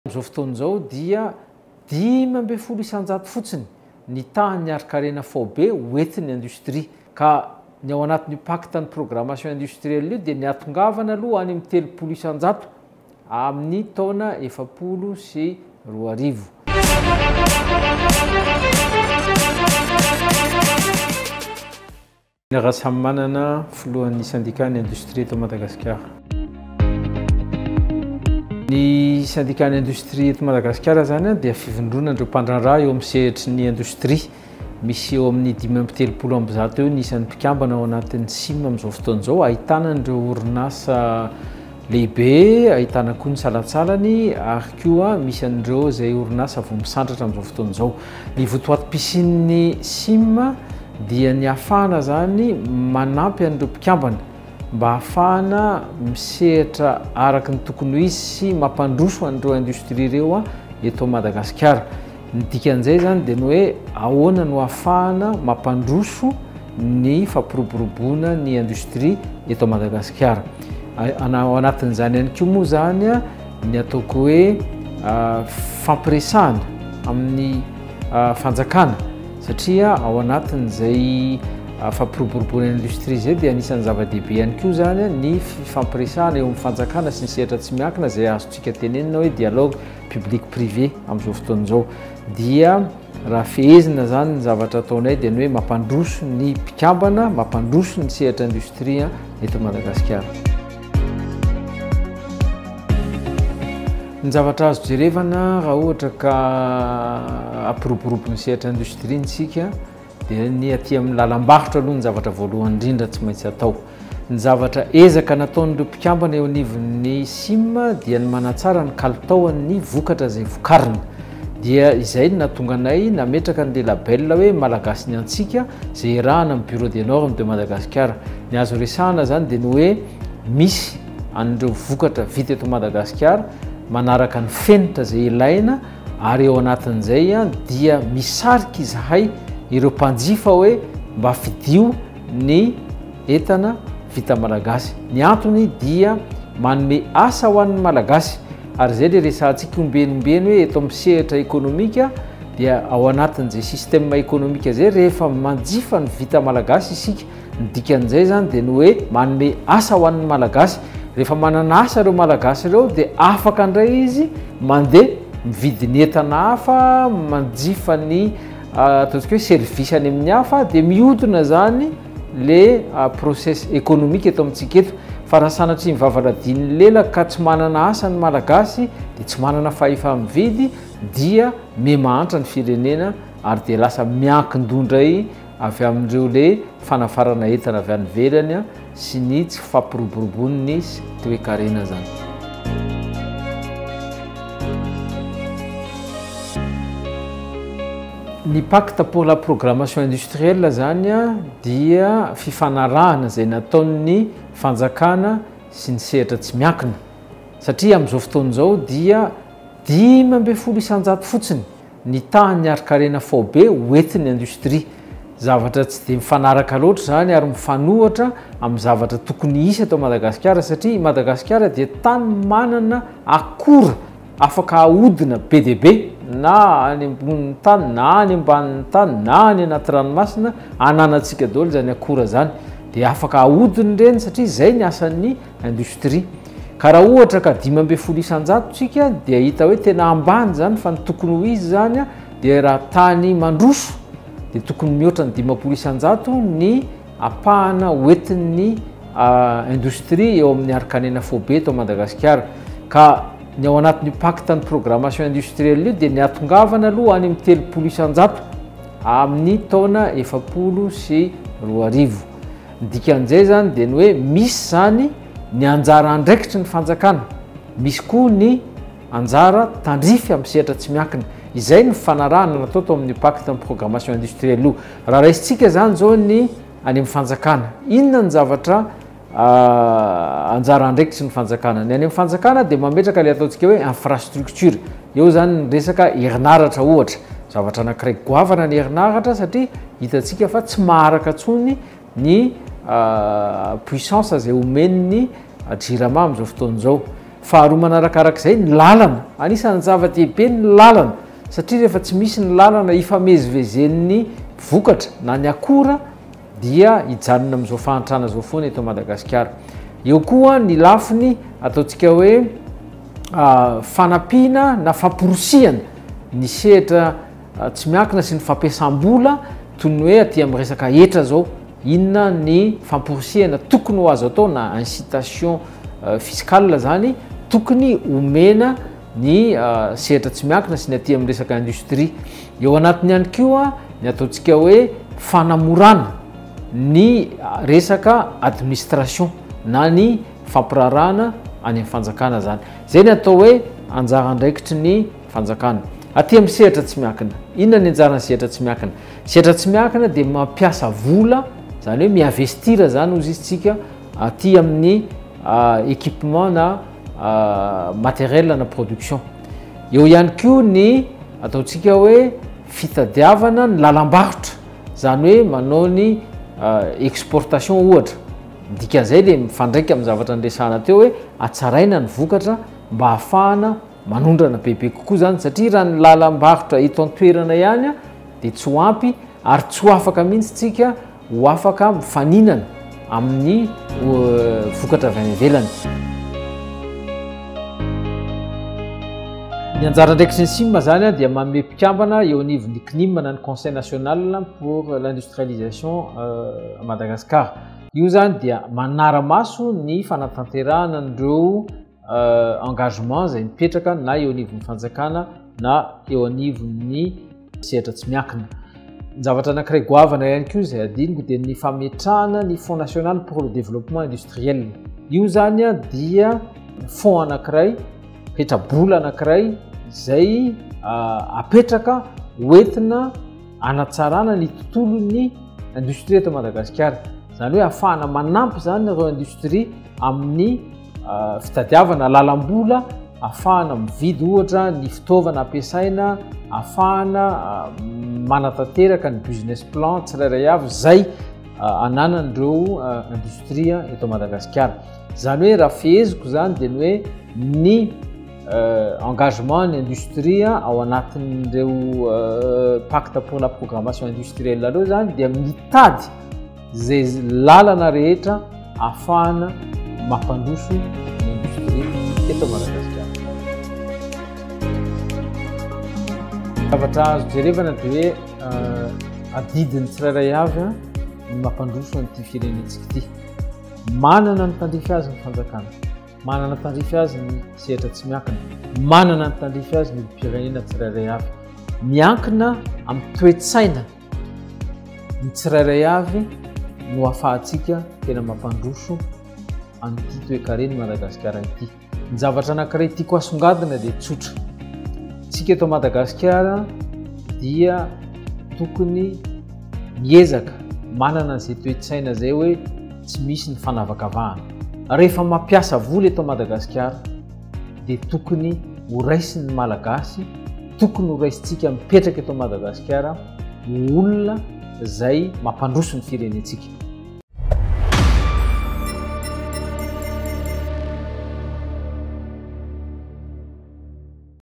Amin'izao fotoana izao dia dimy ambin'ny folo isan-jato fotsiny ny tahan'ny harin-karena faobe hoentin'ny industria ka ny ao anatin'io pacte ny programmation industrielle io dia ny hatongavana aloha any amin'ny telopolo isan-jato amin'ny taona efapolo sy roa arivo. Ny Rasamimanana, filohan'ny Sendikàn'ny indostria eto Madagasikara. Ny Sendikàn'ny indostria eto Madagasikara izany dia fivondronana ireo mpandraharaha eo amin'ny sehatry ny indostria. Misy eo amin'ny dimy amby telopolo amby zato eo ny isan'ny mpikambana ao anatin'ny sim amin'izao fotoana izao, ahitana an'ireo orinasa Lehibe, ahitana koa ny salantsalany ary koa misy an'ireo izay orinasa vao misandratra amin'izao fotoana izao. Ny votoatim-pisian'ny sim dia ny hahafahana izany manampy an'ireo mpikambana mba hahafahana misehatra araka ny tokony ho izy sy mampandroso an'ireo indostria ireo eto Madagasikara. Ny dikan'izay izany dia ny hoe ahoana no ahafahana mampandroso ny fampiroboroboana ny industrie eto Madagasikara. Ao anatin'izany ihany koa moa izany ny ataoko hoe fampiresahana amin'ny fanjakana satria ao anatin'izay fampiroboroboana ny industrie izay dia anisan'ny zava-dehibe ihany koa izany ny fifampiresahana eo amin'ny fanjakana sy ny sehatra tsy miankina izay azontsika tenenina hoe dialogue. public privé amin'izao fotoana izao dia raha fehezina zany ny zavatra ataonay dia ny hoe mampandroso ny mpikambana mampandroso ny sehatra industrie eto Madagasikara. Ny zavatra azo jerevana raha ohatra ka ampiroborobo ny sehatra industrie ntsika Dia ny aty amin'ny lalam-barotra aloha ny zavatra voalohany indrindra tsy maintsy atao. Ny zavatra ezaka nataon'ireo mpikambana eo anivon'ny sim dia ny manatsara ny kalitaon'ny vokatra izay vokarina. Dia izay no nahatonga anay nametraka an'ilay label hoe Malagasy ny antsika izay iarahana amin'ny Bureau des Normes de Madagascar. Ny azo resahana izany dia ny hoe misy an'ireo vokatra vita eto Madagasikara manaraka ny fenitra izay ilaina ary ao anatin'izay dia misarika izahay ireo mpanjifa hoe mba fidio ny entana vita malagasy. Ny antony dia manome asa ho an'ny malagasy ary izay ilay resahantsika ombenombeno hoe eto amin'ny sehatra ekonomika dia ao anatin'izay système ekonomika izay rehefa manjifa ny vita malagasy isika Ny dikan'izay izany dia ny hoe manome asa ho an'ny Malagasy. Rehefa manana asa ireo Malagasy ireo dia afaka indray izy mandeha mividy ny entana hafa, manjifa ny ataontsika hoe service any amin'ny hafa dia mihodina izany le process économique eto amintsika eto. Fa raha sanatria mivavaladian'ny lela ka tsy manana asa ny Malagasy dia tsy manana fahefa-mividy dia mihamahantra ny firenena ary dia lasa miankin-doha indray avy amin'ireo le fanafarana entana avy any ivelany sy ny tsy fampiroboroboan'ny toekarena zany. Ny pacte pour la programmation industrielle zany dia fifanarahana izay nataon'ny fanjakana sy ny sehatra tsy miankina satria amin'izao fotoana izao dia dimy ambin'ny folo isan-jato fotsiny ny tahan'ny harin-karena faobe hoentin'ny indostria. Zavatra tsy dia mifanaraka loatra izany ary mifanohitra amin'ny zavatra tokony hisy eto Madagasikara satria i Madagasikara dia tany manana akora afaka ahodina be dia be na any ambonin'ny tany na any ambanin'ny tany na any anaty ranomasina ananantsika daholo izany akora izany dia afaka ahodina ireny satria izay ny asan'ny industrie ka raha ohatra ka dimy ambin'ny folo isan-jato tsika dia hita hoe tena ambany zany fa ny tokony ho izy zany a dia raha tany mandroso dia tokony mihoatra ny dimampolo isan-jato ny apahana hoentin'ny industrie eo amin'ny arikanena fobe eto Madagasikara ka ny ao anatin'io pacte ny programmation industrielle io dia ny atongavana aloha any amin'ny telopolo isan-jato amin'ny taona efapolo sy roa arivo Ny dikan'izay izany dia ny hoe misy izany ny anjara andraikitry ny fanjakana, misy koa ny anjara tandrify amin'ny sehatra tsy miankina. Izay no fanarahana natao tao amin'ny Pacte programmation industrielle io. Raha raisintsika izany izao ny any amin'ny fanjakana, inona ny zavatra anjara andraikitry ny fanjakana? Ny any amin'ny fanjakana dia mametraka ilay ataontsika hoe infrastructure, eo izany ny resaka herinaratra ohatra, zavatra anankiray goavana ny herinaratra satria, Hitantsika fa tsy maharaka intsony ny puissance izay omen'ny jirama amin'izao fotoana izao. Faharoa manarakarak'izay ny lalana, anisan'ny zava-dehibe ny lalana satria rehefa tsy misy ny lalana ifamezivezen'ny vokatra na ny akora dia hijanona amin'izao fahantrana izao foana eto Madagasikara. Eo koa ny lafiny ataontsika hoe fanampiana na famporisihana ny sehatra Tsy miankina sy ny fampiasam-bola toy ny hoe aty amin'ny resaka hetra zao, inona ny famporisihana tokony ho azo atao na incitation fiscale zany tokony omena ny sehatra tsy miankina sy ny aty amin'ny resaka industrie. Eo anatiny ihany koa ny ataontsika hoe fanamorana ny resaka administration na ny fampiraharahana any amin'ny fanjakana zany. Zay ny atao hoe anjara andraikitry ny. Fanjakana. Aty amin'ny sehatra tsy miankina. Inona ny anjaran'ny sehatra tsy miankina? Sehatra tsy miankina dia mampiasa vola, izany hoe mi-investir izany hozy isika aty amin'ny équipement na matériel na production. Eo ihany koa ny ataontsika hoe fitadiavana ny lalam-barotra, izany hoe manao ny exportation ohatra. Ny dikan'izay dia mifandraika amin'ny zavatra niresahana teo hoe hatsaraina ny vokatra mba hahafahana Manondrana bebe kokoa izany satria raha ny lalam-barotra eto an-toerana ihany dia tsy ho ampy ary tsy ho afaka mihitsy isika ho afaka mifaninana amin'ny vokatra avy any ivelany. Ny anjara andraikitry ny CIM izany dia manome mpikambana eo anivon'ny CNIM na ny Conseil national pour l'industrialisation à Madagascar. Io izany dia manara-maso ny fanatanterahana an'ireo euh, engagement izay mipetraka na eo anivon'ny fanjakana na eo anivon'ny sehatra tsy miakina zavatra anakiray goavana ihany koa izay adiniko dia ny fametrahana ny fond national pour le développement industriel io zany a dia fond anakiray petrabola anakiray izay euh, apetraka hoentina anatsarana ny tontolon'ny industrie eto madagasikara zany hoe afahana manampy zany reo industrie amin'ny fitadiavana lalam-bola afahana mividy ohatra ny fitaovana ampiasaina afahana ah, manatanteraka ny business plan tsirairay avy zay ah, ananan'ireo ah, industria eto madagasikara zany hoe raha fiheziko zany dia ny hoe ny engagement ny industria ao anatin'ireo pacte pour la programmation industrielle reo zany dia mitady izay lalana rehetra afahana mampandroso ny indostria eto Madagasikara. Zavatra azo jerevana dia hoe euh, adidin'ny tsirairay avy ny mampandroso an'ity firenentsika ity. Manana ny tandrify azy ny fanjakana, manana tandrify azy ny sehatra tsy miankina, manana ny tandrify azy ny olom-pirenena tsirairay avy. Miankina amin'ny toe-tsaina Ny tsirairay avy no ahafahantsika tena mampandroso an'ity toekaren'i Madagasikara ity. Ny zavatra anankiray tiako asongadina dia tsotra. Tsika eto Madagasikara dia tokony miezaka manana izay toe-tsaina izay hoe tsy misy ny fanavakavahana. Rehefa mampiasa vola eto Madagasikara, dia tokony ho raisin'ny Malagasy, tokony ho raisintsika mipetraka eto Madagasikara ho olona izay mampandroso ny firenentsika.